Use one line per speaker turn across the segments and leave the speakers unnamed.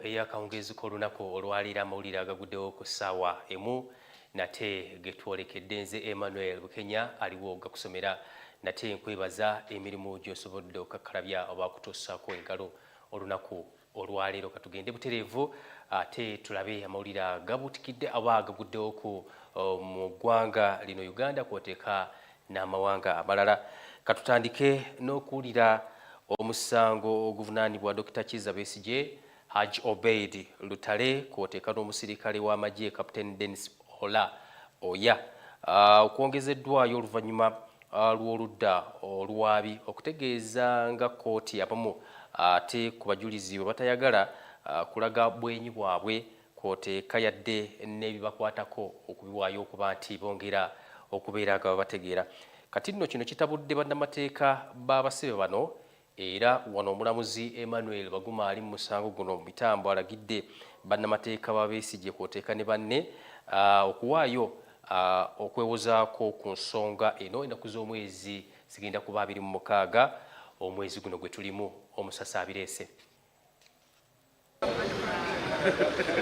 eyakawungeezi k'olunaku olwaliira amawulire agaguddewo ku ssaawa emu nate getwolekedde nze emmanuel bukenya aliwo gakusomera nate nkwebaza emirimu gy'osobodde okakkalabya oba kutuusaako engalo olunaku olwaleero katugende butereevu ate tulabe amawulire agabutikidde aba agaguddewo ku uh, mu ggwanga lino uganda kwoteeka n'amawanga amalala katutandike n'okuwulira omusango oguvunaanibwa dokita kiza besigye haj obeid lutale kwoteeka n'omusirikale w'amagye captain denis ola oya ah, okwongezeddwayo oluvannyuma ah, lw'oludda oluwaabi okutegeeza nga kkooti abamu ate ku bajulizi bwe batayagala ah, kulaga bwenyi bwabwe kwoteeka yadde n'ebibakwatako okubiwaayo okuba nti bongera okubeera nga babategeera kati nno kino kitabudde bannamateeka b'abasibe bano Era wano omulamuzi Emmanuel Baguma ali mu musango guno mu mitambo alagidde bannamateeka ba Besigye kwoteeka ne banne uh, okuwaayo uh, okwewozaako ku nsonga eno ennaku z'omwezi zigenda kuba abiri mu mukaaga omwezi guno gwe tulimu omusasi abireese.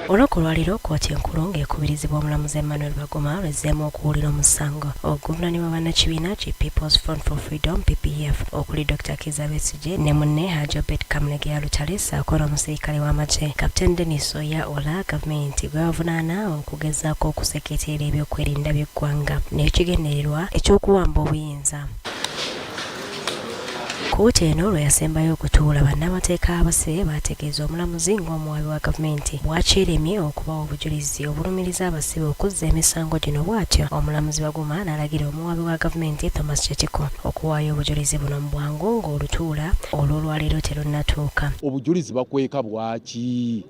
Olunaku olwaleero kkooti enkulu ng'ekubirizibwa omulamuzi Emmanuel Baguma lwezzeemu okuwulira omusango oguvunaanibwa bannakibiina ki People's Front for Freedom PPF okuli Dr Kizza Besigye ne munne Haji Obed Kamulegeya Lutale ssaako n'omusirikale w'amagye Captain Denis Oya Ola gavumenti gwe bavunaana okugezaako okuseketeera ebyokwerinda by'eggwanga n'ekigendererwa eky'okuwamba obuyinza. Kkooti eno lwe yasembayo okutuula, bannamateeka abasee baategeeza omulamuzi ng'omuwaabi wa gavumenti bw'akyeremye okubawa obujulizi obulumiriza abasibe okuzza emisango gino bw'atyo omulamuzi Baguma n'alagira omuwaabi wa gavumenti Thomas Kyetiko okuwaayo obujulizi buno mu bwangu ng'olutuula olw'olwaleero terunnatuuka. Obujulizi bakweka
bwaki?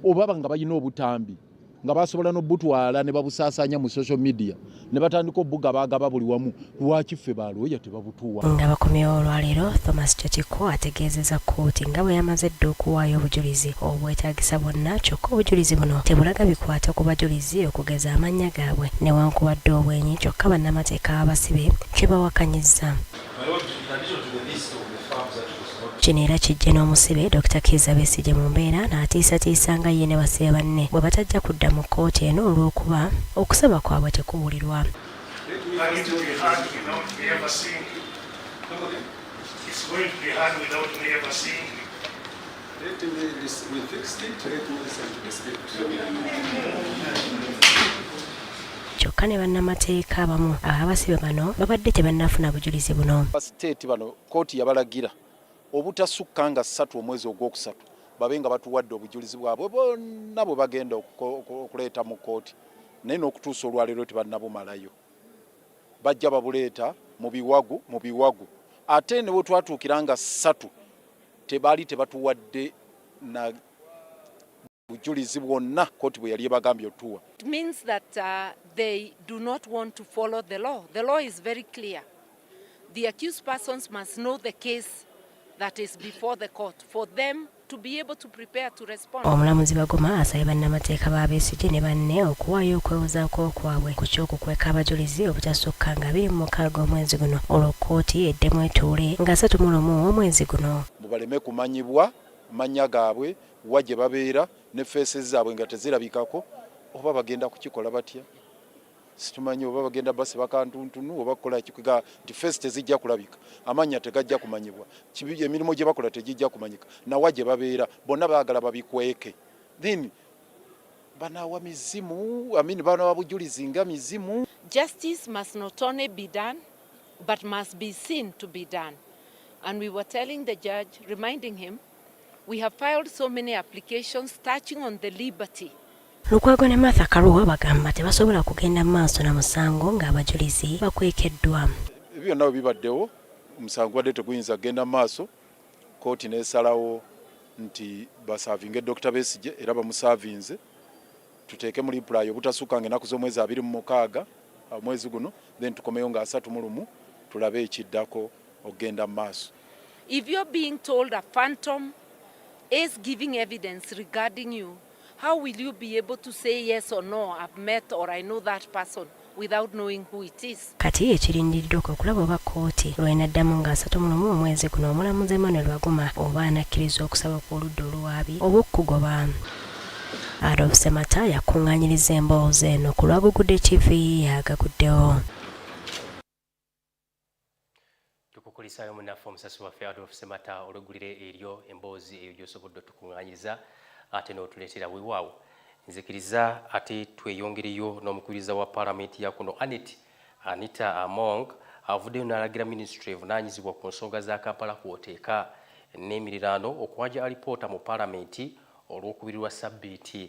Obaba nga balina obutambi. nga basobola nobutwala nebabusasanya mu social media nebatandika obuga bagaba buli wamu lwaki ffe balooya tebabutuwa nga bakomyewo
olwaleero thomas chatiko ategeezeza kkooti nga bwe yamaze dda okuwaayo obujulizi obwetagisa bwonna kyokka obujulizi buno tebulaga bikwata ku bajulizi okugeza amannya gaabwe newankubadde obwenyi kyokka bannamateeka abasibe kyebawakanyizza Kino era kijje n'omusibe Dokita Kiiza Besigye mu mbeera n'atiisatiisa nga ye ne basibe banne bwe batajja kudda mu kkooti eno olw'okuba okusaba kwabwe tekuwulirwa. Let me, this, we fixed it. Let me listen to the script. kyokka ne bannamateeka abamu abasibe bano babadde tebannafuna bujulizi buno siteeti bano
kkooti yabalagira obutasukka nga ssatu omwezi ogwokusatu babe nga batuwadde obujulizi bwabwe bonna bwe bagenda okuleeta mu kkooti naye n'okutuusa olwaleero tebannabumalayo bajja babuleeta mu biwagu mu biwagu ate ne bwe twatuukira nga ssatu Tebaali tebatuwadde na bujulizi bwonna kooti bwe yali ebagambye otuwa. It means that
uh, they do not want to follow the law. The law is very clear. The accused persons must know the case that is before the court for them to be able to Omulamuzi Baguma asabye
bannamateeka ba Besigye ne banne okuwaayo okwewozaako kwabwe ku ky'okukweka abajulizi obutasukka nga abiri mu mukaaga omwezi guno olwo kkooti eddemu etuule nga asatu mu lumu omwezi guno. mbu baleme kumanyibwa
mannya gaabwe, wa gye babeera ne faces zaabwe nga tezirabikako oba bagenda kukikola batya? situmanyi oba bagenda basiba kantuntunu oba kukola kikuga nti face tezijja kulabika amannya tegajja kumanyibwa emirimu gye bakola tegijja kumanyika nawa gye babeera bonna baagala babikweke then banawa mizimu amin banawa bujulizi nga mizimu justice must
not only be done but must be seen to be done and we were telling the judge reminding him we have filed so many applications touching on the liberty Lukwago ne
Martha Karua bagamba tebasobola kugenda maaso na musango ng'abajulizi bakwekeddwa. Ebyo byonna bwe
bibaddewo omusango gubadde teguyinza kugenda maaso kkooti n'esalawo nti basaavinge Dokita Besigye era bamusaavinze tuteeke mu limpulayi obutasukka nga ennaku z'omwezi abiri mu mukaaga omwezi guno then tukomeyo nga asatu mu lumu tulabe ekiddako okugenda mu maaso. If you're
being told a phantom is giving evidence regarding you, How will you be able to say yes or no I've met or I know that person without knowing who it is. Kati ekirindiridde
kwe kulaba oba kkooti lw'enaddamu nga asatu mu lumu omwezi guno omulamuzi Emmanuel Baguma oba anakkiriza okusaba kw'oludda oluwaabi oba okukugoba. Adolf Semata yakuŋŋaanyiriza emboozi eno ku lwa Gugude TV agaguddewo.
tukukulisaayo munaffe omusasi waffe adolf semata olweggulire eryo emboozi eyo gyosobodde otukuŋŋaanyiriza ate n'otuleetera wewaawo nzikiriza ate tweyongereyo n'omukubiriza wa paalamenti ya kuno anet anita among avuddeyo n'alagira minisitule evunaanyizibwa ku nsonga za kampala kwoteeka n'emiriraano okuwanja alipoota mu paalamenti olw'okubirirwa ssabbiiti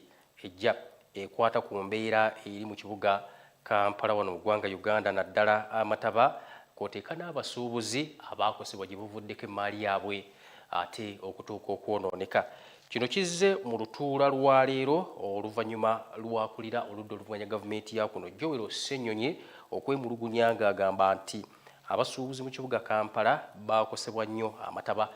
Ejja ekwata ku mbeera eri mu kibuga Kampala wano mu ggwanga Uganda naddala amataba kwoteeka n'abasuubuzi abaakosebwa gye buvuddeko emmaali yaabwe ate okutuuka okwonooneka. Kino kizze mu lutuula lwa leero oluvannyuma lw'akulira oludda oluvuganya gavumenti ya kuno Joel Ssenyonyi okwemulugunya ng'agamba nti Abasuubuzi mu kibuga Kampala baakosebwa nnyo amataba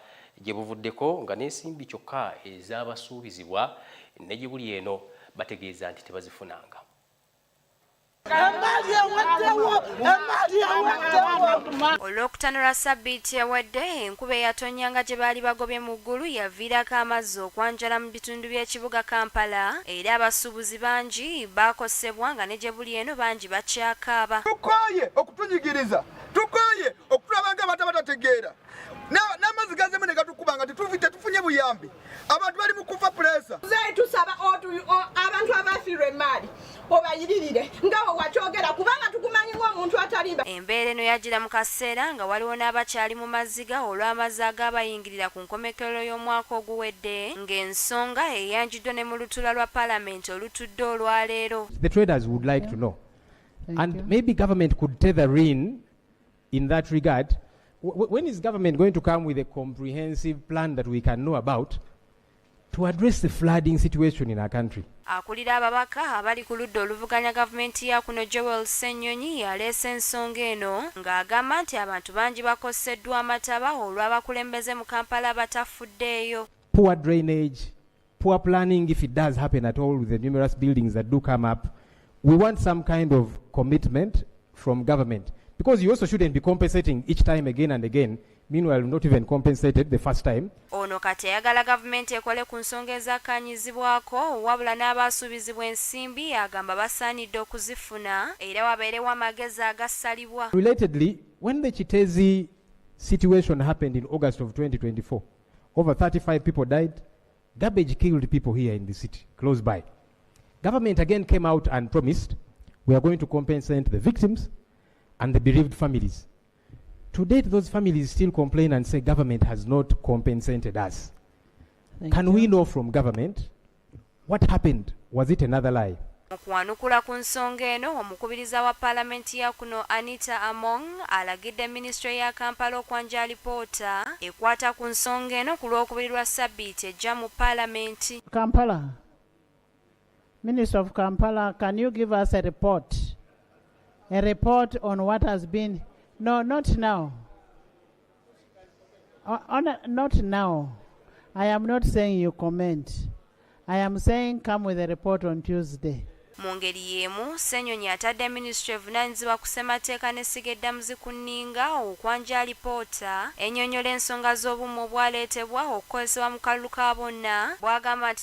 gye buvuddeko nga n'ensimbi kyokka ezaabasuubizibwa ne gye buli eno bategeeza nti tebazifunanga.
Olwokutaano lwa ssabbiiti ewedde, enkuba eyatonnya nga gye baali bagobye mu ggulu yaviirako amazzi okwanjala mu bitundu by'ekibuga Kampala era abasuubuzi bangi bakosebwa nga ne gyebuli eno bangi bakyakaaba. Tukooye
okutunyigiriza, tukooye okutulaba nga abantu abatategeera n'amazzi gazemu ne gatukuba nga tetufunye buyambi, abantu bali mu kufa puleesa. Muzeeyi tusaba
abantu abafiirwa emmaali obayiririre nga bwe wakyogera kubanga tukumanyimu omuntu atalimba. Embeera eno yajjira mu
kaseera nga waliwo n'abakyali mu maziga olw'amazzi agaabayingirira ku nkomekerero y'omwaka oguwedde ng'ensonga eyanjuddwa ne mu lutuula lwa palamenti olutudde olwaleero. The traders would like
to know and maybe government could tether in in that regard when is government going to come with a comprehensive plan that we can know about to address the flooding situation in our country. Akulira ababaka
abali ku ludda oluvuganya gavumenti ya kuno Joel Ssenyonyi yaleese ensonga eno ng'agamba nti abantu bangi bakoseddwa amataba olw'abakulembeze mu Kampala abatafuddeeyo. Poor drainage,
poor planning if it does happen at all with the numerous buildings that do come up. We want some kind of commitment from government because you also shouldn't be compensating each time again and again Meanwhile, not even compensated the first time. Ono kati ayagala
gavumenti ekole ku nsonga ezakkaanyizibwako wabula n'abaasuubizibwa ensimbi agamba basaanidde okuzifuna era wabeerewo amagezi agasalibwa. Relatedly, when
the Kitezi situation happened in August of 2024, over 35 people died, garbage killed people here in the city, close by. Government again came out and promised we are going to compensate the victims and the bereaved families. To date, those families still complain and say government has not compensated us. Thank Can you. we know from government what happened? Was it another lie? mu kuwanukula ku
nsonga eno omukubiriza wa paalamenti ya kuno anita among alagidde minisitule ya kampala okwanja alipoota ekwata ku nsonga eno ku lwokubiri lwa sabbiiti ejja mu paalamenti kampala
Minister of Kampala, can you give us a report? A report on what has been. No, not now. Uh, on, uh, not now. I am not saying you comment. I am saying come with a report on Tuesday. mu ngeri
y'emu ssenyonyi atadde minisitule evunaanyizibwa ku ssemateeka n'essiga eddamuzi ku nninga okwanja alipoota ennyonnyola ensonga z'obumu obwaleetebwa okukozesebwa mu kalulu ka bonna bw'agamba nti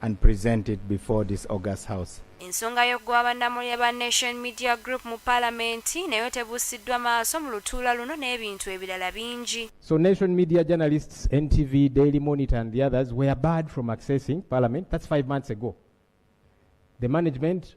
and present it before this August House. Ensonga
y'okugoba bannamulya ba Nation Media Group mu Palamenti nayo tebuusiddwa maaso mu lutuula luno n'ebintu ebirala bingi. So Nation Media
journalists, NTV, Daily Monitor and the others were barred from accessing Parliament. That's five months ago. The management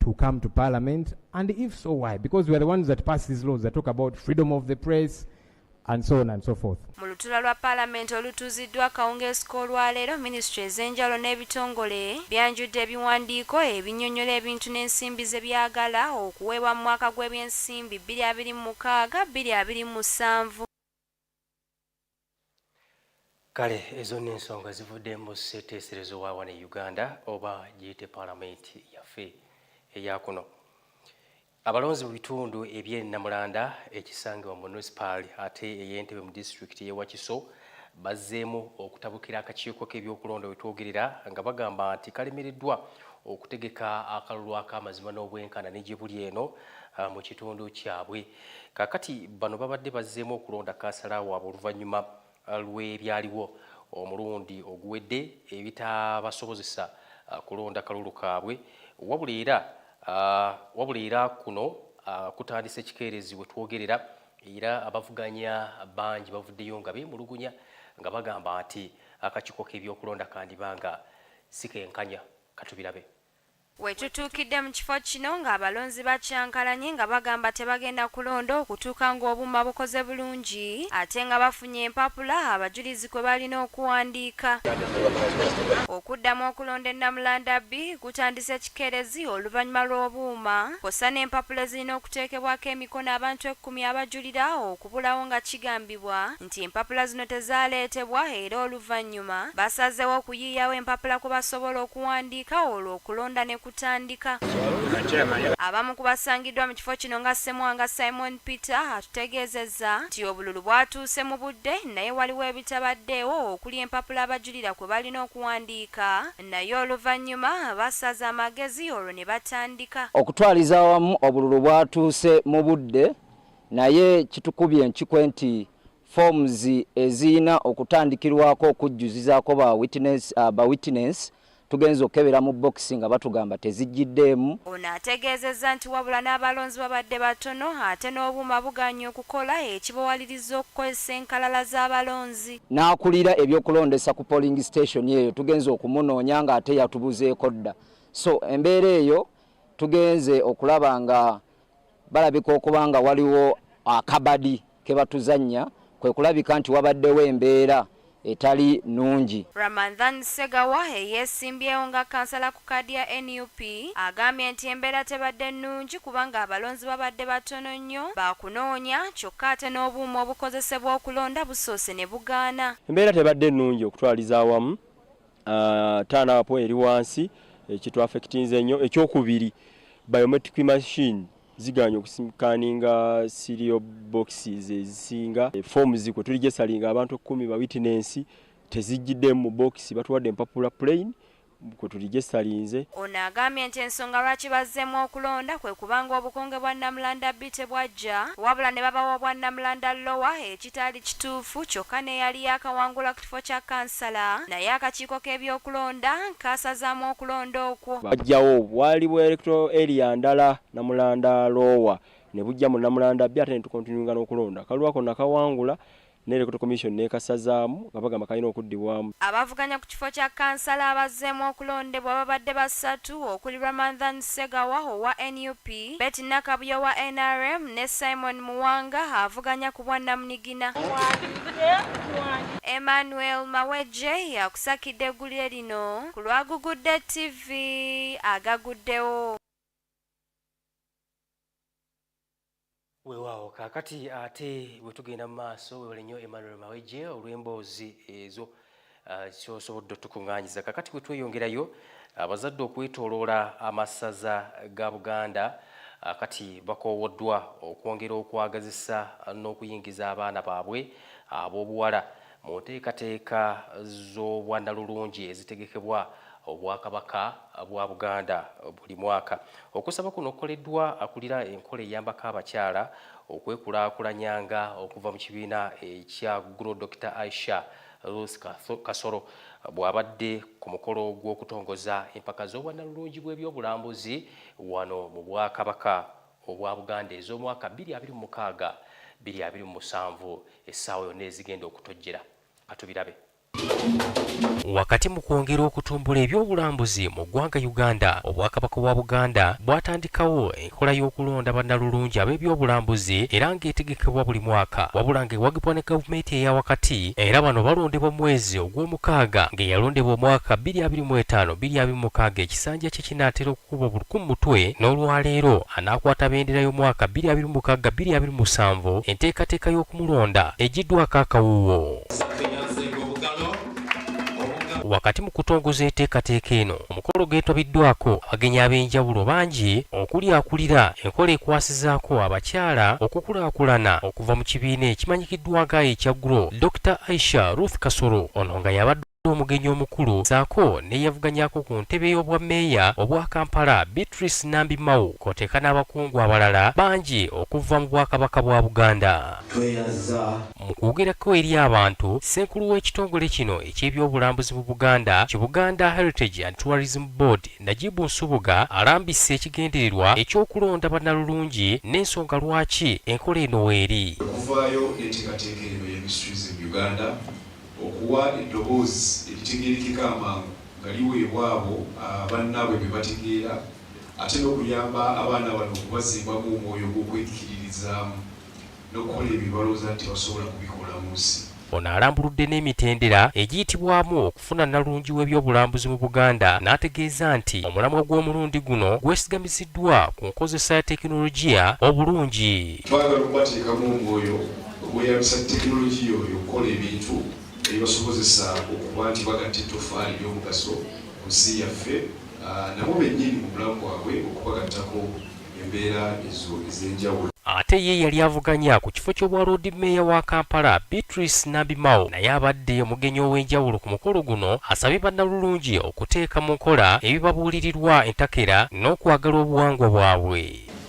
to come to parliament? And if so, why? Because we are the ones that pass these laws that talk about freedom of the press, and so on and so forth. Mu lutula lwa palamenti
olutuuziddwa akawungeezi k'olwaleero minisitule ez'enjawulo n'ebitongole byanjudde ebiwandiiko ebinyonyola ebintu n'ensimbi ze byagala okuweebwa mu mwaka gw'ebyensimbi bbiri abiri mu mukaaga bbiri abiri mu musanvu.
kale ezo nno ensonga zivudde mu sseeteeserezo wa wano e uganda oba giyite palamenti yaffe eyakuno abalonzi mu bitundu eby'e namulanda ekisangibwa mu munisipaali ate ey'entebe mu disitulikiti y'e wakiso bazzeemu okutabukira akakiiko k'ebyokulonda we twogerera nga bagamba nti kalemereddwa okutegeka akalulu ak'amazima n'obwenkana ne gye buli eno ah, mu kitundu kyabwe Kakati bano babadde bazzeemu okulonda kansala waabwe oluvannyuma uh, lw'ebyaliwo omulundi oguwedde ebitaabasobozesa uh, kulonda kalulu kaabwe wabula era uh, wabula era kuno kutandise ekikeerezi we twogerera era abavuganya bangi bavuddeyo nga beemulugunya nga bagamba nti akakiiko k'ebyokulonda kandiba nga sikenkanya katubirabe Wetutuukidde
mu kifo kino nga abalonzi bakyankalanye nga bagamba tebagenda kulonda okutuuka nga obuuma bukoze bulungi ate nga bafunye empapula abajulizi kwe balina okuwandiika. Okuddamu okulonda e Namulanda ii kutandise kikeerezi oluvanyuma lw'obuuma kwossa n'empapula ezirina okuteekebwako emikono abantu ekkumi abajulira okubulawo nga kigambibwa nti empapula zino tezaaleetebwa era oluvannyuma basazeewo okuyiiyawo empapula kwe basobola okuwandiika olwo okulonda ne kutandika. Abamu ku basangiddwa mu kifo kino nga Ssemwanga Simon Peter atutegeezezza nti obululu bwatuuse mu budde naye waliwo ebitabaddeewo okuli empapula abajulira kwe balina okuwandiika naye oluvannyuma basaze amagezi olwo ne batandika. Okutwaliza awamu
obululu bwatuuse mu budde Naye kitukubye enkikwe nti forms eziyina okutandikirwako okujjuzizaako ba witness, uh, ba witness tugenza okukebera mu bokisi nga batugamba tezijjiddeemu. Ono ategeezezza
nti wabula n'abalonzi babadde batono ate n'obuuma bugaanye okukola ekibawaliriza okukozesa enkalala z'abalonzi. N'akulira
ebyokulondesa ku polling station eyo tugenze okumunoonya nga ate yatubuzeeko dda so embeera eyo tugenze okulaba nga balabika okuba nga waliwo akabadi ke batuzannya kwe kulabika nti wabaddewo embeera etali nungi. Ramadhan
Segawa eyeesimbyewo nga kansala ku kaadi ya nup agambye nti embeera tebadde nnungi kubanga abalonzi babadde batono nnyo baakunoonya kyokka ate n'obuuma obukozesebwa okulonda busoose ne bugaana. Embeera tebadde nnungi
okutwaliza awamu uh, taana apo eri wansi ekitwafekitinze eh, nnyo ekyokubiri biometric machine ziganye okusikaninga sirio boxes ezisinga eh, fomu zikwe tuli gyesalinga abantu ekkumi ba witinensi tezijjidde mu boxi batuwadde empapula plane kwe tuli gyesalinze ono agambye nti
ensonga lwaki bazzeemu okulonda kwe kubanga obukonge bwa namulanda bi tebwajja wabula ne babawa obwa namulanda lowa kitaali kituufu kyokka n'eyali yaakawangula ku kifo kya kkansala naye akakiiko k'ebyokulonda kaasazaamu okulonda okwo. Bajjawo bwali
bwa electoral area ndala Namulanda Lower ne bujja mu Namulanda Bbi ate ne tukontinuinga n'okulonda. Kalulu ako nakawangula ne Electoral Commission n'ekasazaamu nga bagamba kalina okuddibwamu. Abavuganya ku kifo
kya kkansala abazzeemu okulondebwa babadde basatu okuli Ramadhan. Ssegawa owa nup, Betty Nakabuye owa nrm ne Simon Muwanga avuganya ku bwannamunigina. Emmanuel Mawejje y'akusakidde eggulire lino ku lwa Gugudde TV agaguddewo.
Weewaawo kaakati ate bwe tugenda mu maaso wewale nnyo Emmanuel Mawejje olw'emboozi ezo kyosobodde ah, otukuŋŋaanyiza. Kaakati bwe tweyongerayo abazadde okwetooloola amasaza ga Buganda ah, kati bakoowoddwa okwongera okwagazisa n'okuyingiza abaana baabwe ab'obuwala Mu nteekateeka z'obwandalulungi ezitegekebwa obwakabaka bwa Buganda buli mwaka. Okusaba kuno kukoleddwa akulira enkola eyambako abakyala okwekulaakulanyanga okuva mu kibiina ekya Gro Dr Aisha Ruth Kasoro bw'abadde ku mukolo gw'okutongoza empaka z'obwannalulungi bw'ebyobulambuzi wano mu Bwakabaka obwa Buganda ez'omwaka 2026 2027 essaawa yonna ezigenda okutojjera katubirabe. Wakati mu kwongera okutumbula ebyobulambuzi mu ggwanga Uganda, Obwakabaka bwa Buganda bwatandikawo enkola y'okulonda bannalulungi ab'ebyobulambuzi era ng'etegekebwa buli mwaka wabula ng'ewagibwa ne gavumenti eya wakati era bano balondebwa mu mwezi ogw'omukaaga ng'eyalondebwa omwaka 2025 2026 ekisanja kye kinaatera kkubo buli ku mutwe n'olwaleero anaakwata bendera y'omwaka bbiri abiri mu mukaaga bbiri abiri mu musanvu enteekateeka y'okumulonda egiddwako akawuuwo. Wakati mu kutongoza eteekateeka eno, omukolo geetabiddwako abagenyi ab'enjawulo bangi okuli akulira enkola ekwasizaako abakyala okukulaakulana okuva mu kibiina ekimanyikiddwa nga ekya GROW, Dokita Aisha Ruth Kasolo. Ono nga y'abadde yabadde omugenyi omukulu saako neyavuganyako ku ntebe y'obwa meeya obwa Kampala Beatrice Nambi Mao kwoteeka n'abakungu abalala bangi okuva mu bwakabaka bwa Buganda. Mu kwogerako eri abantu, ssenkulu w'ekitongole kino eky'ebyobulambuzi mu Buganda ki Buganda Heritage and Tourism Board Najibu Nsubuga alambisse ekigendererwa eky'okulonda bannalulungi n'ensonga lwaki enkola eno weeri. Okuvaayo
n'enteekateeka eno y'emiss tourism Uganda. Okuwa eddoboozi eritegeerekeka amangu nga liweebwa abo bannaabwe be bategeera ate n'okuyamba abaana bano okubazimbamu omwoyo gw'okwekiririzaamu n'okukola ebyo bye balowooza nti tebasobola kubikola mu nsi. Ono alambuludde
n'emitendera egiyitibwamu okufuna nnalungi w'ebyobulambuzi mu Buganda n'ategeeza nti omulamwa gw'omulundi guno gwesigamiziddwa ku nkozesa ya tekinologiya obulungi. Twagala okubateekamu
omwoyo. Okweyambisa tekinologiya oyo okukola ebintu ebibasobozesa okuba nti bagatta ettoffaali ery'omugaso ku nsi yaffe nabo bennyini mu bulamu bwabwe okubagattako embeera ezo ez'enjawulo. Ate ye eyali
avuganya ku kifo ky'obwa Loodi Meeya wa Kampala, Beatrice Nambi Mao naye abadde omugenyi ow'enjawulo ku mukolo guno asabye Bannalulungi okuteeka mu nkola ebibabuulirirwa entakera n'okwagala obuwangwa bwabwe.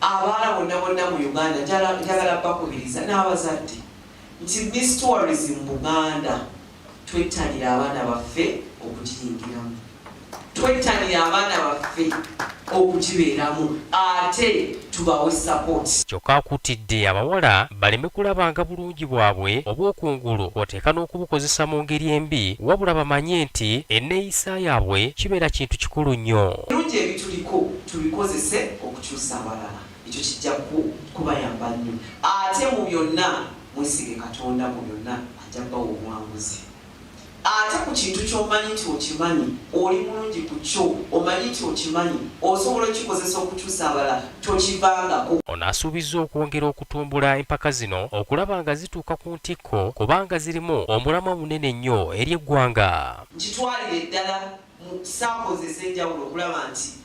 Abaana bonna bonna
mu Uganda njala njagala bakubiriza n'abazadde nti Miss Tourism Buganda twettanire abaana baffe okugiyingiramu, twettanire abaana baffe okugibeeramu ate tubawe sapooti. Kyokka akuutidde
abawala baleme kulabanga bulungi bwabwe obw'okungulu kw'oteeka n'okubukozesa mu ngeri embi wabula bamanye nti enneeyisa yaabwe kibeera kintu kikulu nnyo. Ebirungi ebituliko
tubikozese. kyusa abalala ekyo kijja kubayamba nnyo ate mu byonna mwesige katonda mu byonna ajja bawa obuwanguzi ate ku kintu kyomanyi nti okimanyi oli mulungi ku kyo omanyi nti okimanyi osobola okikozesa okukyusa abala tokivangako ono asuubizza
okwongera okutumbula empaka zino okulaba nga zituuka ku ntikko kubanga zirimu omulamwa munene nnyo eri eggwanga nkitwalire eddala
mu saako ze ez'enjawulo okulaba nti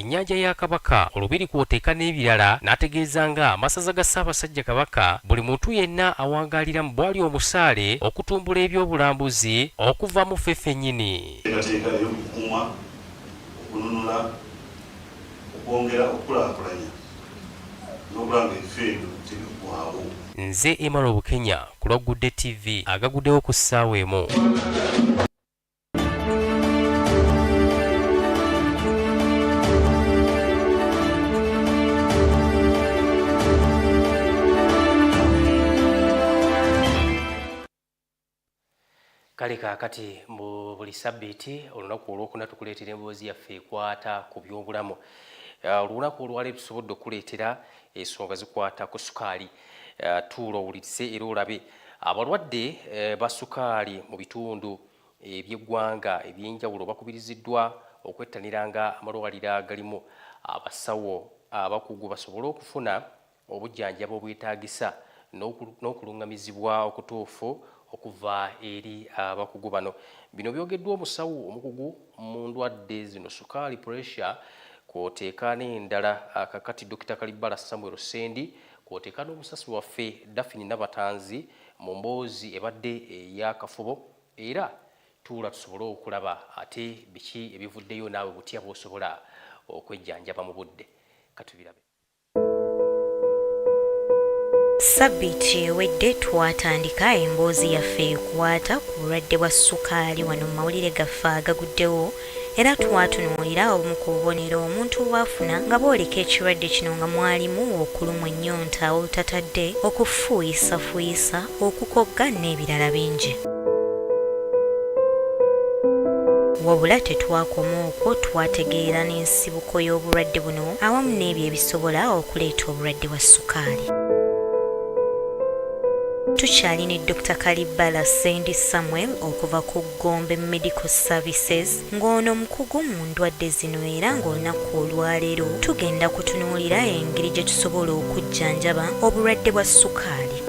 ennyanja ya Kabaka, olubiri kw'oteeka n'ebirala n'ategeeza nga Amasaza ga Ssaabasajja Kabaka buli muntu yenna awangaalira mu bwali omusaale okutumbula eby'obulambuzi okuva mu ffe ffennyini. Enteekateeka ey'okukuuma,
okununula, okwongera okukulaakulanya n'okulaba ng'ebifo ebyo tebiggwaawo. Nze Emmanuel
Bukenya ku lwa Good Day TV agaguddewo ku ssaawa emu. kale kaakati mu buli sabbiiti olunaku olwokuna tukuleetera emboozi yaffe ekwata ku byobulamu uh, olunaku olwaleero tusobodde okuleetera ensonga zikwata ku sukaali Eh, tuula owulirize era olabe abalwadde eh, ba sukaali mu bitundu eby'eggwanga eby'enjawulo bakubiriziddwa okwettaniranga amalwaliro agalimu abasawo abakugu basobole okufuna obujjanjaba obwetaagisa n'okulungamizibwa okutuufu okuva eri abakugu bano bino byogeddwa omusawo omukugu mu ndwadde zino sukaali puresha kwoteeka n'endala kakati dokita kalibbala samuel sendi kwoteeka n'omusasi waffe dafini nabatanzi mu mboozi ebadde eyakafubo era tuula tusobole okulaba ate biki ebivuddeyo naawe butya bwosobola okwejjanjaba mu budde katubirabe
Sabbiiti ewedde twatandika emboozi yaffe ekwata ku bulwadde bwa ssukaali wano mu mawulire gaffe agaguddewo era twatunuulira obumu ku bubonero omuntu bw'afuna nga bwoleka ekirwadde kino nga mwalimu okulumwa ennyonta olutatadde, okufuuyisafuuyisa, okukogga n'ebirala bingi. Wabula tetwakoma okwo, twategeera n'ensibuko y'obulwadde buno awamu n'ebyo ebisobola okuleeta obulwadde bwa ssukaali. Tukyali ne Dokita Kalibbala Ssendi Samuel okuva ku Gombe Medical Services ng'ono mukugu mu ndwadde zino era ng'olunaku olwaleero tugenda kutunuulira engeri gye tusobola okujjanjaba obulwadde bwa ssukaali.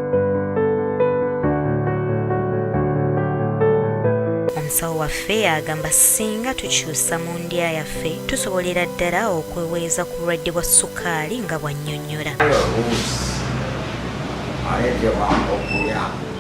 omusawo waffe agamba singa tukyusa mu ndya yaffe tusobolera ddala okweweeza ku bulwadde bwa sukaali nga bw'annyonnyola.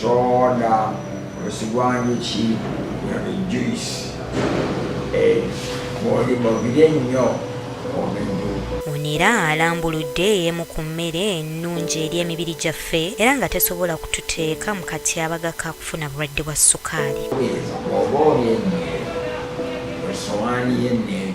soda osigwanjuki juice eh, bwolibogire nnyo omendu ono era
alambuludde emu ku mmere ennungi eri emibiri gyaffe era nga tesobola kututeeka mu katyabaga ka kufuna bulwadde bwa sukaali oba olya
emmere esowaani y'emmere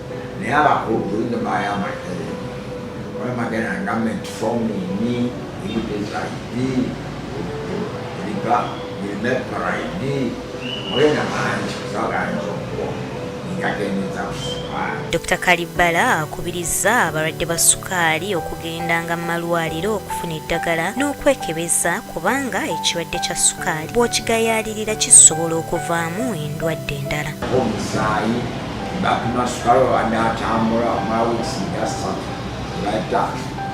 naye abakulu bulinda bayamba olemagana government formini ebitezaidi ebiba birimeparaidi mulina mangi kusaganza okuwo ngagendeza kusukaali dr kalibbala
akubirizza abalwadde ba sukaali okugendanga mu malwaliro okufuna eddagala n'okwekebeza kubanga ekirwadde kya sukaali bw'okigayaalirira kisobola okuvaamu endwadde endala omusaayi
Bakuma sukalo abadde atambula omala wiiki nga ssatu bata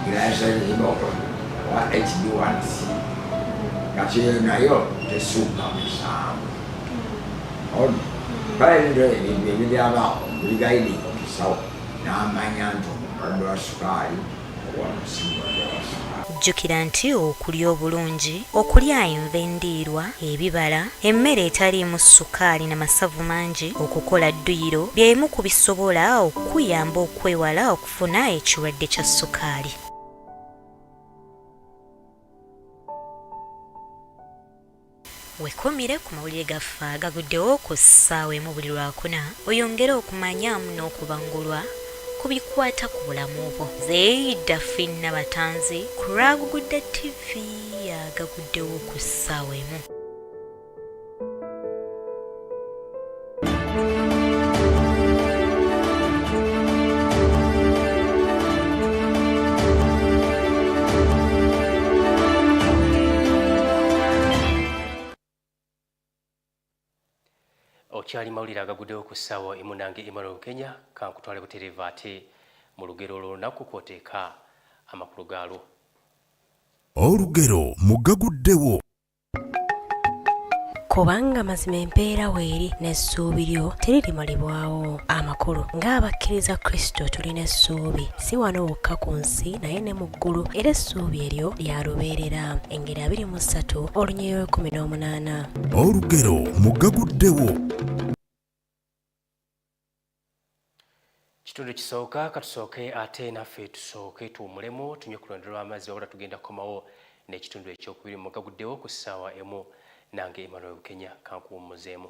irayasabizinokola owa hd1c kati eyo nayo tesuuka musanvu on bala ebintu ebintu ebiryabaawo buli gayidi omusawo n'amanya nti omulwadde wa sukaali Jjukira
nti okulya obulungi, okulya enva endiirwa, ebibala, emmere etaliimu ssukaali na masavu mangi, okukola dduyiro bye bimu ku bisobola okukuyamba okwewala okufuna ekirwadde kya ssukaali. Wekomire ku mawulire gaffe agaguddewo ku ssaawa emu buli lwakuna oyongere okumanyamu n'okubangulwa ku bikwata ku bulamu bwo. Nze Daphine Nabatanzi ku lw'Agugudde TV agaguddewo ku ssaawa emu.
okyali mawulire agaguddewo ku ssaawa emunange emmanuel kenya kankutwale butereeva ate mu lugero olw'olunaku kwoteeka amakulu gaalwo olugero
mugaguddewo
kubanga mazima empeera weeri n'essuubi lyo teririmalibwawo amakulu ng'abakkiriza kristo tulina essuubi si wano wokka ku nsi naye ne mu ggulu era essuubi eryo lya lubeerera engeri abiri mu ssatu olunyeyo ekumi n'omunaana olugero
mugaguddewo
kitundu kisooka katusooke ate naffe tusooke tuwumulemu tunywe ku lwendo lw'amazzi wabula tugenda kukomawo n'ekitundu ekyokubiri mugaguddewo ku ssaawa emu nange emmanuel bukenya kankuwummuzeemu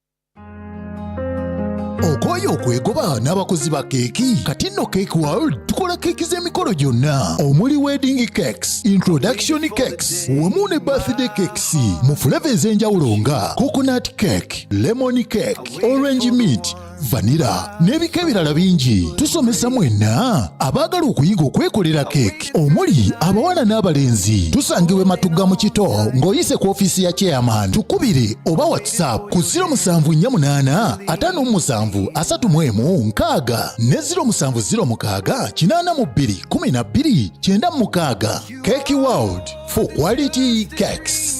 okooye okwegoba n'abakozi ba keeki kati nno cake world tukola keeki z'emikolo gyonna omuli wedding cakes introduction cakes wamu ne birthday cakes mu fuleva ez'enjawulo nga coconut cake lemon cake orange meat vanira n'ebika ebirala bingi tusomesa mwenna abaagala okuyiga okwekolera keeki omuli abawala n'abalenzi tusangibwa ematugga mu kito ng'oyise ku ofiisi ya chairman tukubire oba whatsapp ku 07485376 ne 0707821296 keki world for quality cakes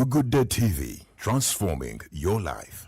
Good Day TV, transforming your life.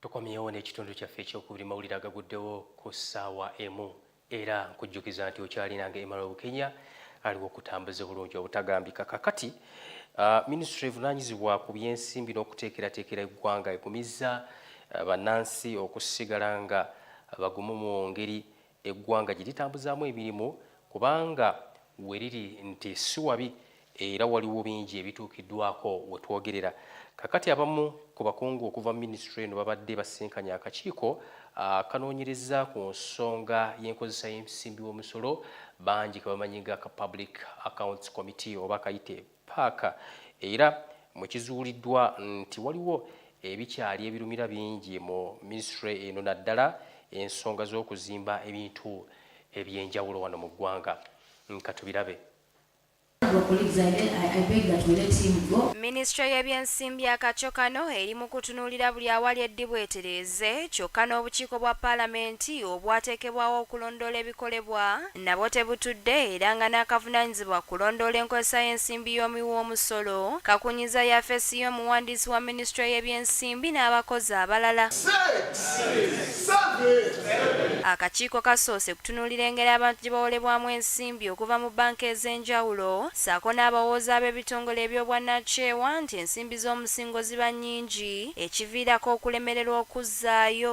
tukomyewo n'ekitundu kyaffe ekyokubiri mawulire agaguddewo ku ssaawa emu era nkujjukiza nti okyalinanga emala obukenya aliwo okutambuza obulungi obutagambika kakati uh, minisitule evunaanyizibwa ku byensimbi n'okuteekerateekera eggwanga egumizza uh, bannansi okusigala nga bagumu mu ngeri eggwanga gye litambuzaamu emirimu kubanga we liri nti si wabi era waliwo bingi ebituukiddwako we twogerera kakati abamu ku bakungu okuva mu minisitule eno babadde basisinkanye akakiiko akanoonyereza ku nsonga y'enkozesa y'ensimbi w'omusolo bangi ke bamanyi nga ka public accounts committee oba kayite paaka era mwekizuuliddwa nti waliwo ebikyali ebirumira bingi mu minisitule eno naddala ensonga z'okuzimba ebintu ebyenjawulo wano mu ggwanga nkatubirabe
minisitule y'ebyensimbi akakyo kano eri mu kutunuulira buli awali eddibu etereeze kyokka n'obukiiko bwa palamenti obwateekebwawo okulondoola ebikolebwa nabwo tebutudde era nga n'akavunaanyizibwa ku kulondoola enkozesa y'ensimbi y'omuwi w'omusolo kakunyizza yafeesi y'omuwandiisi wa minisitule y'ebyensimbi n'abakozi abalala. Akakiiko kasoose kutunuulira engeri abantu gye bawolebwamu ensimbi okuva mu bbanka ez'enjawulo ssaako n'abawooza ab'ebitongole eby'obwannakyewa nti ensimbi z'omusingo ziba nnyingi ekiviirako okulemererwa okuzzaayo.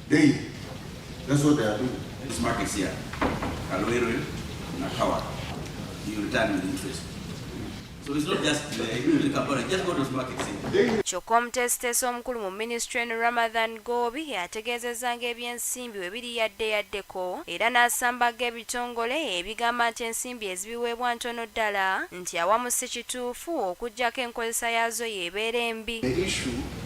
Hey, that's what they are doing. This market
here, Kalwere, Nakawa, you return with interest. So it's not just the uh, Kampala, just go to this market here. Kyokka omuteesiteesi
omukulu mu minisitule eno Ramadhan Goobi yategeezezza ng'ebyensimbi we biri yadde yaddeko era n'asambaga ebitongole ebigamba nti ensimbi ezibiweebwa ntono ddala nti awamu si kituufu okuggyako enkozesa yaazo y'ebeera embi.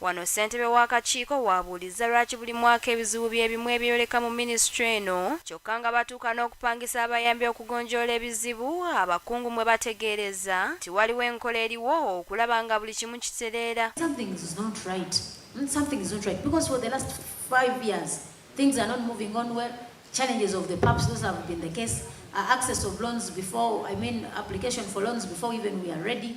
Wano ssentebe
w'akakiiko w'abuulizza lwaki buli mwaka ebizibu bye bimu ebyeyoleka mu minisitule eno kyokka nga batuuka n'okupangisa abayambi okugonjoola ebizibu abakungu mwe bategeerezza nti waliwo enkola eriwo okulaba nga buli kimu kitereera. Something is not
right mm something is not right because for the last five years things are not moving on well challenges of the PAPs those have been the case uh, access of loans before I mean application for loans before even we are ready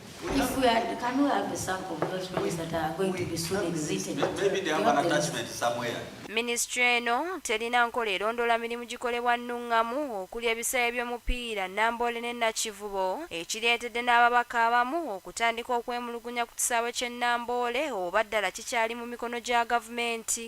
If we are, can we have a sample of those ones that are going to be soon exited? Maybe they have an
attachment somewhere. Minisitule eno
terina nkola erondoola mirimu gikolebwa nnungamu okuli ebisaawe by'omupiira Namboole ne Nakivubo ekireetedde n'ababaka abamu okutandika okwemulugunya ku kisaawe ky'e Namboole oba ddala kikyali mu mikono gya gavumenti.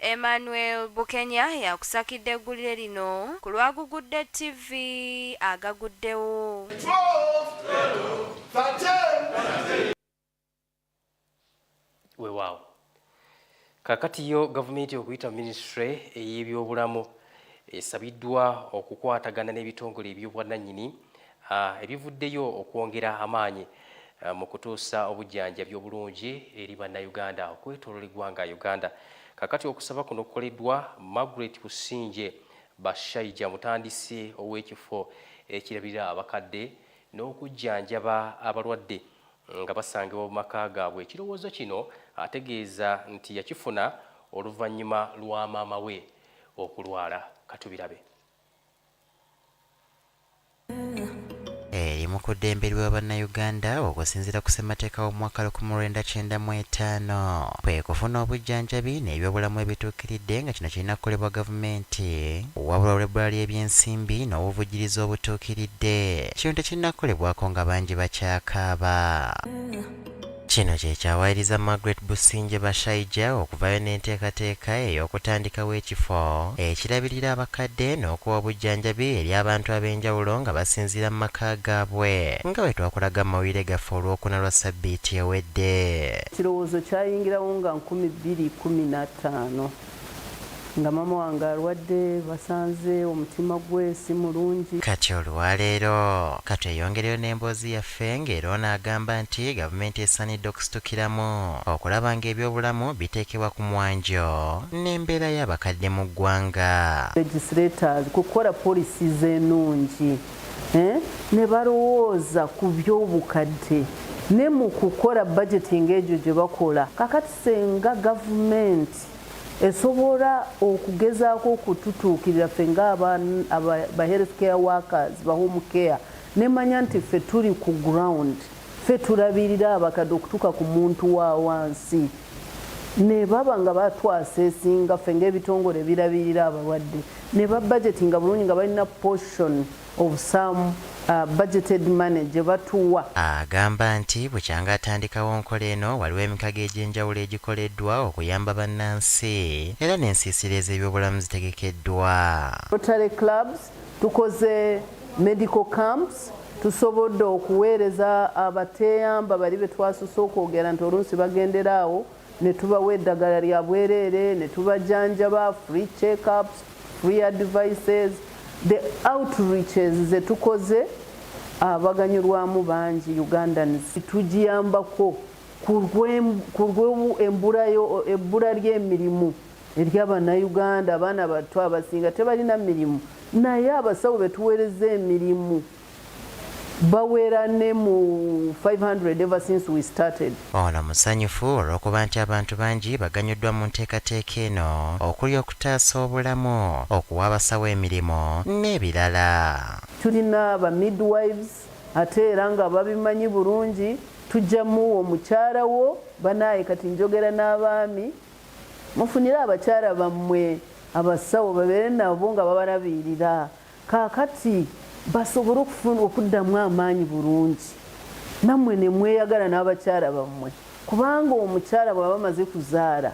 Emmanuel
Bukenya yakusakidde eggulire lino ku lwa Gugudde TV agaguddewo. Weewaawo.
Kaakati yo gavumenti okuyita mu minisitule ey'ebyobulamu esabiddwa okukwatagana n'ebitongole eby'obwannannyini Ah, ebivuddeyo okwongera amaanyi ah, mu kutuusa obujjanjabi obulungi eri bannayuganda okwetolola eggwanga Uganda. Kakati okusaba kuno kukoleddwa Margaret Busingye Bashaija mutandisi ow'ekifo ekirabirira abakadde n'okujjanjaba abalwadde nga basangibwa mu maka gaabwe. Ekirowoozo kino ategeeza nti yakifuna oluvannyuma lwa maama we okulwala. Katubirabe.
eri mu kuddembe lwa bannayuganda okusinziira ku ssemateeka w'omwaka 1995 kwe kufuna obujjanjabi n'ebyobulamu ebituukiridde nga kino kirina kukolebwa gavumenti wabula olw'ebbula ly'ebyensimbi n'obuvujjirizi obutuukiridde kino tekirina kukolebwako nga bangi bakyakaaba Kino kyekyawaayiriza Margaret Busingye Bashaija okuvaayo n'enteekateeka ey'okutandikawo ekifo ekirabirira abakadde n'okuwa obujjanjabi eri abantu ab'enjawulo nga basinziira mu maka gaabwe nga bwe twakulaga mu mawulire gaffe olwokuna lwa ssabbiiti ewedde. Ekirowoozo
kyayingirawo nga nkumi bbiri kkumi na ttaano nga maama wange alwadde basanze omutima gwe si mulungi. Kati olwaleero
katweyongereyo n'emboozi yaffe ng'era ono agamba nti gavumenti esaanidde okusitukiramu okulaba ng'ebyobulamu biteekebwa ku mwanjo n'embeera y'abakadde mu ggwanga. legislators
kukola policies enungi ne balowooza ku by'obukadde ne mu kukola budgeting egyo gye bakola kakati senga government esobola okugezaako okututuukirira ffe nga ba health care workers ba home care nemanya nti ffe tuli ku ground ffe tulabirira abakadde okutuuka ku muntu wa wansi ne baba nga batwasa esinga ffe ngaebitongole ebirabirira abalwadde ne babajeti nga bulungi nga balina portion of some uh, budgeted money gye batuwa. Agamba nti
bukyanga atandikawo nkola eno waliwo emikago egy'enjawulo egikoleddwa okuyamba bannansi era n'ensiisira ez'ebyobulamu zitegekeddwa. Rotary
clubs, tukoze medical camps, tusobodde okuweereza abateeyamba bali be twasose okwogera nti oluusi bagendera awo. ne tubawa eddagala lya bwereere ne tubajanjaba free check ups free advices the outreaches ze tukoze abaganyulwamu bangi ugandans tugiyambako ku lw'ebbula ly'emirimu ery'abannayuganda abaana batto abasinga tebalina mirimu naye abasawo betuweereza emirimu bawera ne mu 500 ever since we started. Ono musanyufu
olw'okuba nti abantu bangi baganyuddwa mu nteekateeka eno okuli okutaasa obulamu, okuwa abasawo emirimu n'ebirala. Tulina
ba midwives ate era nga babimanyi bulungi, tujja muwa omukyala wo, banaaye kati njogera n'abaami, mufunire abakyala bammwe abasawo babeere nabo nga babalabirira Kaakati basobole okufuna okuddamu amaanyi bulungi, nammwe ne mweyagala n'abakyala bammwe, kubanga omukyala bw'aba amaze kuzaala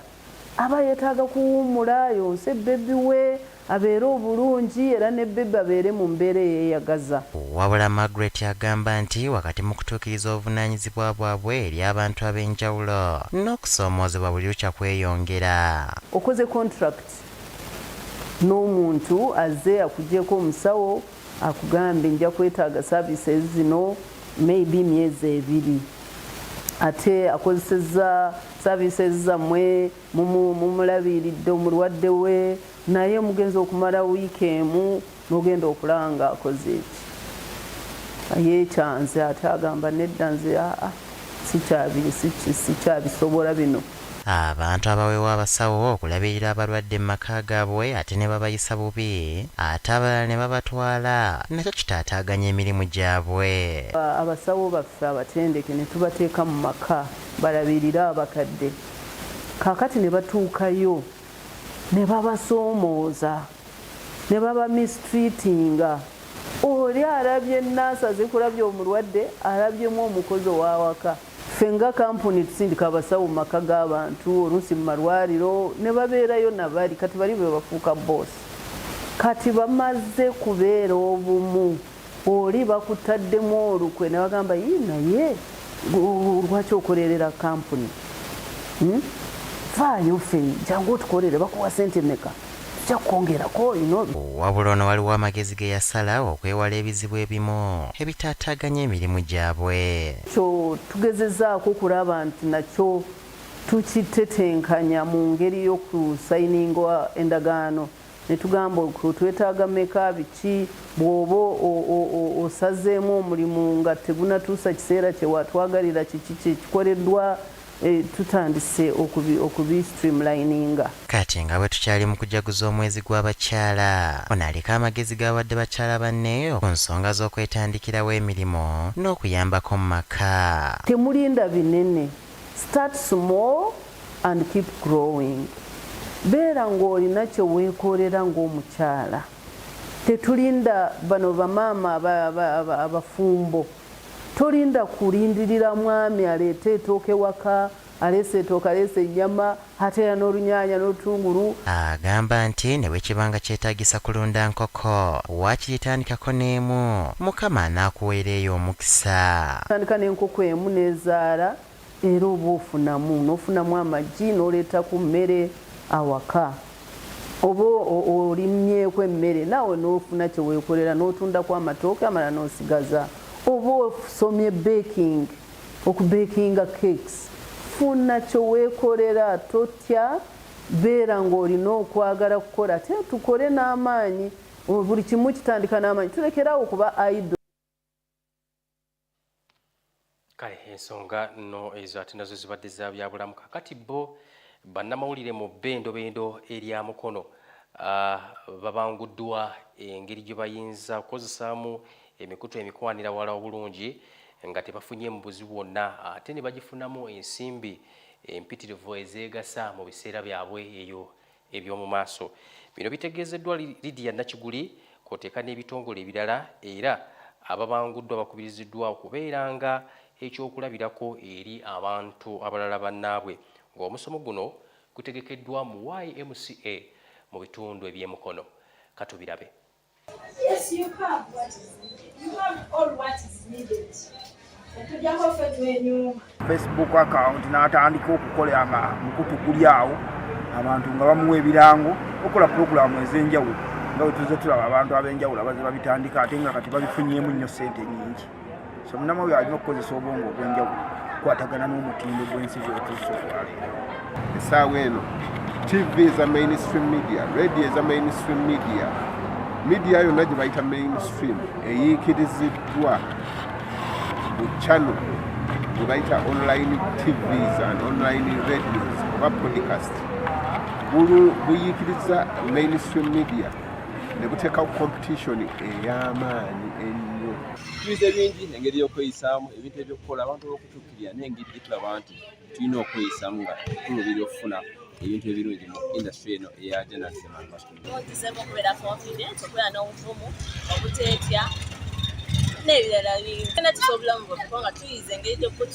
aba yeetaaga kuwummula, ayonse bbebi we abeere obulungi era ne bbebi abeere mu mbeera eyeeyagaza. Wabula Margaret
agamba nti wakati mu kutuukiriza obuvunaanyizibwa bwabwe eri abantu ab'enjawulo, n'okusoomoozebwa buli lukya kweyongera. Okoze
kontulakiti? n'omuntu azze akugyeko omusawo akugambe nja kwetaaga services zino maybe myezi ebiri ate akozesezza services zammwe mumulabiiridde omulwadde we naye mugenzi okumala wiiki emu nogenda okulanga akoze eki ayekyanze ate agamba nedda nze aa sikyabisobola bino Abantu
abawewa abasawo okulabirira abalwadde mu maka gaabwe ate ne babayisa bubi ate abalala ne babatwala nakyo kitaataaganya emirimu gyabwe. Abasawo
baffe abatendeke ne tubateeka mu maka balabirire abakadde kaakati ne batuukayo ne babasoomooza. ne baba mistreatinga oli alabye nurse azikulabye omulwadde alabyemu omukozi owawaka ffe nga kampuni tusindika abasawo maka g'abantu oluusi mu malwaliro ne babeerayo nabali kati bali bebafuuka boss kati bamaze kubeera obumu Oli bakutaddemu olukwe ne bagamba yii naye lwaki okolerera kampuni hmm? faayo fe jangu otukolere bakuwa sente meka tujja kukwongerako wabula
ono waliwo amagezi ge yasala okwewala ebizibu ebimu ebitaataaganya emirimu gyabwe kyo
tugezezaako okulaba nti nakyo tukitetenkanya mu ngeri y'okusayininga endagaano netugamba twetaaga meka biki bwoba osazeemu omulimu nga tegunatuusa kiseera kyewatwagalira kiki kyekikoleddwa eh, tutandise okubi streamlininga Kati nga
bwetukyali mu kujaguza omwezi gw'abakyala, ono aliko amagezi g'awadde bakyala banne ku nsonga z'okwetandikirawo emirimu n'okuyambako mu maka. Temulinda
binene. Start small and keep growing. Beera ng'olina kye weekoolera ng'omukyala. Tetulinda bano bamaama abafumbo. Tolinda kulindirira mwami aleete etooke waka, aleese etooke, aleese ennyama, Ate era n'olunyanya n'olutungulu. Agamba nti
ne bwe kiba nga kyetaagisa kulunda nkoko, waakiri tandikako n'emu, Mukama anaakuweera eyo omukisa. Tandika n'enkoko
emu n'ezaala era oba ofunamu, n'ofunamu amagi n'oleeta ku mmere awaka. Oba olimyeko emmere naawe n'ofuna kye weekolera n'otundako amatooke amalala n'osigaza. Oba osomye baking. Okubeekinga cakes, Funa kye weekolera, totya, beera ng'olina okwagala kukola ate tukole n'amaanyi. Buli kimu kitandika n'amaanyi, tulekere awo okuba idle.
kale ensonga no ezo ate nazo zibadde za byabulamu kakati bo bannamawulire mu bendobendo erya mukono ah, babanguddwa engeri gye bayinza kukozesaamu emikutu emikwanira wala obulungi nga tebafunye mu buzibu bwonna ate ne bagifunamu ensimbi empitirivu ezeegasa mu biseera byabwe eyo eby'omu maaso bino bitegeezeddwa lidia nakiguli kwoteeka n'ebitongole ebirala era ababanguddwa bakubiriziddwa okubeera nga ekyokulabirako eri abantu abalala bannaabwe ng'omusomo guno gutegekeddwa mu ymca mu bitundu eby'emukono katubirabe Yes,
you have what is needed. You have all what is
needed. Facebook account n'atandika okukola nga mukutu guli awo abantu nga bamuwa ebirango okola pulogulaamu ez'enjawulo nga wetuze tulaba abantu ab'enjawulo abaze babitandika ate nga kati babifunyemu nnyo ssente nyingi semunamawe alina okukozesa obwongo obwenjawulo okukwatagana n'omutindo gw'ensi gyotuusa okwaleero essaawa
eno tv eza mainstream media radio eza mainstream media media yonna gye bayita mainstream eyiikiriziddwa mu channel gye bayita online tvs and online radios oba podcast buyiikiriza mainstream media ne buteekawo competition ey'amaanyi ennyo tuyize bingi
engeri y'okweyisaamu ebintu ebyokukola abantu olwokutuukirira naye engeri gye tulaba nti tulina okweyisaamu nga tulubira okufuna ebintu ebirungi mu industry eno eya janazimaaogizeemu okubeera confident okubeera
n'obuvumu obuteetya n'ebirala bingi tena tusa obulamu bwaffe kubanga tuyize engeri gyokut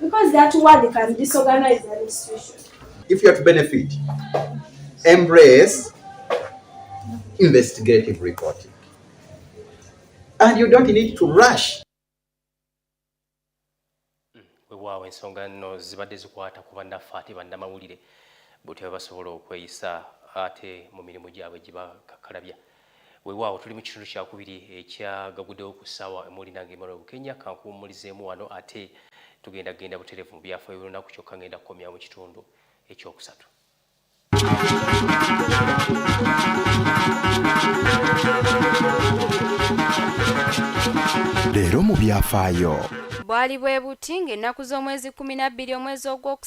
Because that word can disorganize
an institution. If you are to benefit, embrace investigative reporting. And you don't need to rush.
wewaawo ensonga nno zibadde zikwata ku bannaffe ate bannamawulire butya basobola okweyisa ate mu mirimu gyabwe gibakakalabya wewaawo tuli mu kitundu kyakubiri ekyagagudewo ku ssaawa emuli nange emmanuel bukenya kankuwummulizeemu wano ate tugenda kugenda butereevu mu byafaayo by'olunaku kyokka ngenda kukomya mu kitundu ekyokusatu
leero mu byafaayo bwali bwe
buti ng'ennaku z'omwezi 12 omwezi ogw'oku